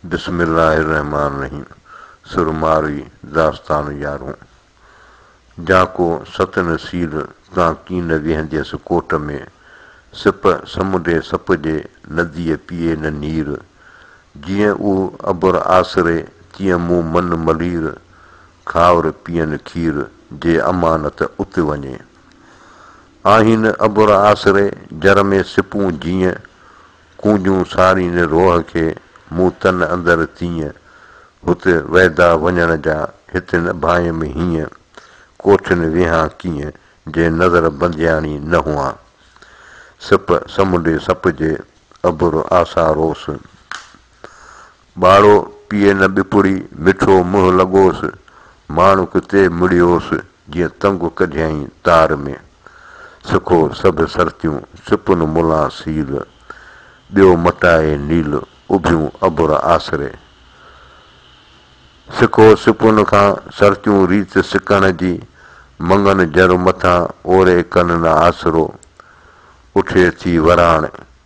بسم الله الرحمٰن الرحيم سرمارئي داستان يارون! جاکو ست نصير تان ڪين ويهنديس ڪوٽ ۾، سپ سمنڊي سپ جي نديء پيئي نه نير، جيئن او ابر آسري تيئن مون من ملير، کائر پيئن کير جي امانت ات وڃي. آهين ابر آسري جر ۾ سپون جيئن، ڪونجون سارين روح کي، مون تن اندر تيئن، هت ويدا وڃڻ جا، هت نه ڀانئيم هيئن، ڪوٺين ويهان ڪيئن، جي نظر بندياڻي نه هئان. سپ سمنڊي سپ جي، اڀر آسا روس، ٻاڙو پيئي نه ٻپڙي، مٺو منهن لڳوس، ماڻڪ تي مڙيوس، جيئن تنگ ڪڍيائين تار ۾، سکو سڀ سرتيون، سپن ملان سيل، ٻيو مٽائي نيل، اڀيون ابر آسري. سکو سپن کان، سرتيون ريت سڪڻ جي، مڱن جر مٿان، اوري ڪن نه آسرو، اٺي ٿي وراڻ.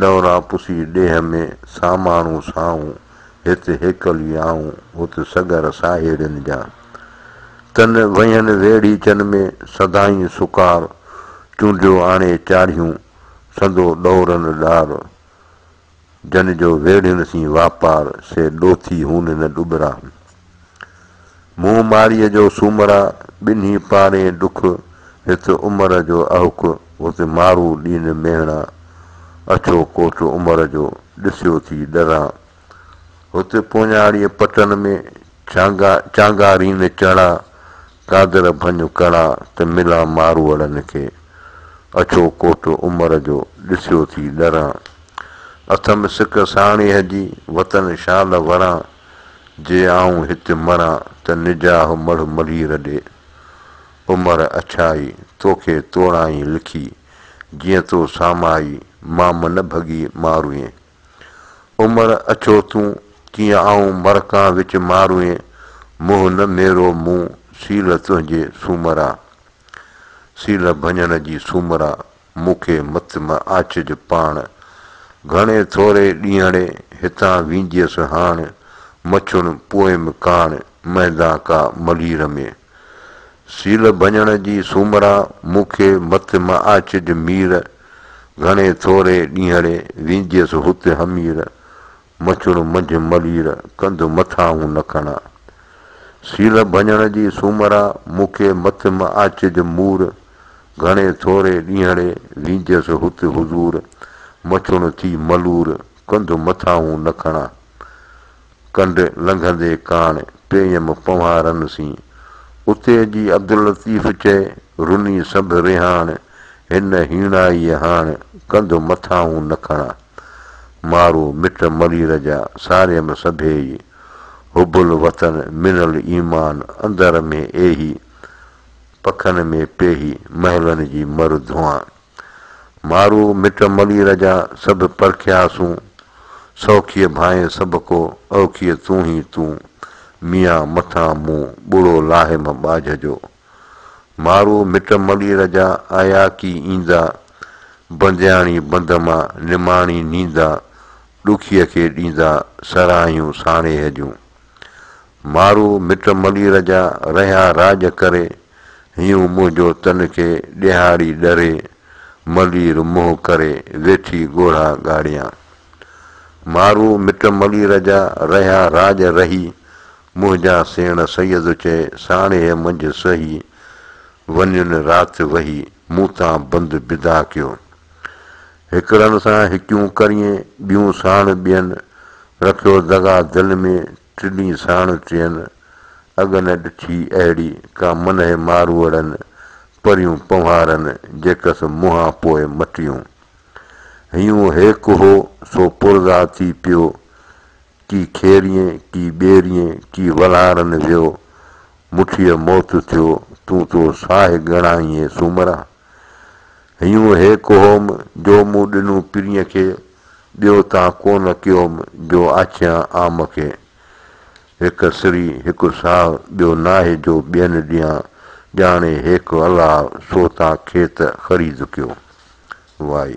ڏوران پسي ڏيهه ۾، سا ماڻهو سائون، هت هيڪل ئي آئون، هت سڳر ساهيڙين جا. تن وهين ويڙهيچن ۾، سدائين سڪار، چونڊيو آڻي چاڙهيون، سندو ڏورن ڏار. جن جو ويڙهين سين واپار، سي ڏوٿي هون نه ڏٻرا. مون ماريء جو سومرا ٻنهي پارين ڏک، هت عمر جو اهوڪ، هت مارو ڏين ميهڻا، اڇو ڪوٽ عمر جو، ڏسيو ٿي ڏران. هت پونياڙيء پٽن ۾، چانگا رين چڻا، قادر ڀڃ ڪڻا، ته ملان ماروئڙن کي، اڇو ڪوٽ عمر جو، ڏسيو ٿي ڏران. اٿم سڪ ساڻيهه جي، وطن شال وران. جي آئون هت مران ته نجاهه مڙهه مڙهير ڏي. عمر اڇائي توکي توڙائين لکي، جيئن تو سامائي مام نه ڀڳي ماروئين. عمر اڇو تون، تيئن آئون مرڪان وچ ماروئين، منهن نه ميرو مون سيل تنهنجي سومرا. سيل ڀڃڻ جي سومرا مون کي مت م آڇج پاڻ، گهڻي ٿوري ڏينهڙي هتان وينديس هاڻ، مڇون پوئيم ڪاڻ، مهندان ڪا ملير ۾. سيل ڀڃڻ جي سومرا، مون کي مت م آڇج مير، گهڻي ٿوري ڏينهڙي وينديس هت همير، مچڻ منجهه ملير، ڪنڌ مٿاهون نه کڻان. سيل ڀڃڻ جي سومرا، مون کي مٿ م آچج مور، گهڻي ٿوري ڏينهڙي، وينجهس هت حضور، مچڻ ٿي ملور، ڪنڌ مٿاهون نه کڻان. ڪنڊ لنگهندي ڪاڻ، پيئم پنوهارن سين. اتي جي عبداللطيف چئي، رني سنڀ رهاڻ، هن هيڻائيء هاڻ، ڪنڌ مٿاهون نه کڻان. مارو مٽ ملير جا ساريم سڀيئي، حب الوطن من الايمان اندر ۾ ايهي، پکن ۾ پيهي محلن جي مر ڌوئان. مارو مٽ ملير جا سڀ پرکياسون، سوکيء ڀانئين سڀڪو اوکيء تون هي تون، ميان مٿان مون ٻڙو لاهيم ٻاجهه جو، مارو مٽ ملير جا آيا ڪي ايندا، بندياڻي بند مان نماڻي نيندا، ڏکيء کي ڏيندا سراهيون ساڻيهه جون. مارو مٽ ملير جا رهيا راڄ ڪري، هيون منهنجو تن کي ڏيهاڙي ڏري، ملير منهن ڪري ويٺي ڳوڙها ڳاڙيان. مارو مٽ ملير جا رهيا راڄ رهي، منهنجا سيڻ سيد چئي، ساڻيهه منجهه سهي، ونين رات وهي، مون تان بند بدا ڪيو. هڪڙن سان هڪيون ڪرين، ٻيون ساڻ ٻين، رکيو دغا دل ۾، ٽني ساڻ ٽين، اڳ نه ڏٺي اهڙي، ڪا منهه ماروئڙن، پريون پنهوارن، جيڪس منهان پوء مٽيون. هيون هيڪ هو، سو پرذاتي پيو، ڪي کيريين، ڪي ٻيريين، ڪي ولهارن ويو، مٺيء موت ٿيو، تون تو ساهي ڳڻائينء سومرا! هيون هي ڪهوم، جو مون ڏنو پرينء کي، ٻيو تان ڪونه ڪيوم، جو آڇيان عام کي. هڪ سري، هڪ ساهه، ٻيو ناهي جو ٻين ڏيان، ڄاڻي هيڪ الله، سو تان کيت خريد ڪيو. وائي.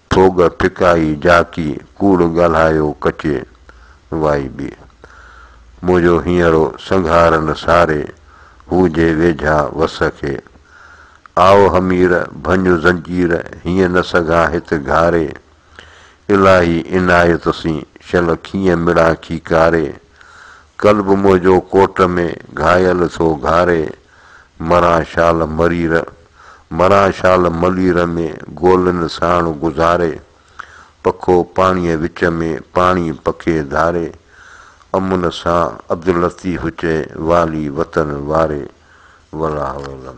ڦوڳ ڦڪائي جاکي، ڪوڙ ڳالهايو ڪچي وائي ٻي. منهنجو هينئرو سنگهار نه ساري، هو جي ويجها وس کي. آء همير ڀڃ زنجير، هيئن نه سگهان هت گهاري. الاهي عنايت سين، شل کيئن مڙان کيڪاري. قلب منهنجو ڪوٽ ۾، گهايل ٿو گهاري. مران شال مرير، مران شال ملير ۾، گولن ساڻ گذاري، پکو پاڻيء وچ ۾، پاڻي پکي ڌاري، امن سان عبداللطيف چئي، والي وطن واري. والله اعلم.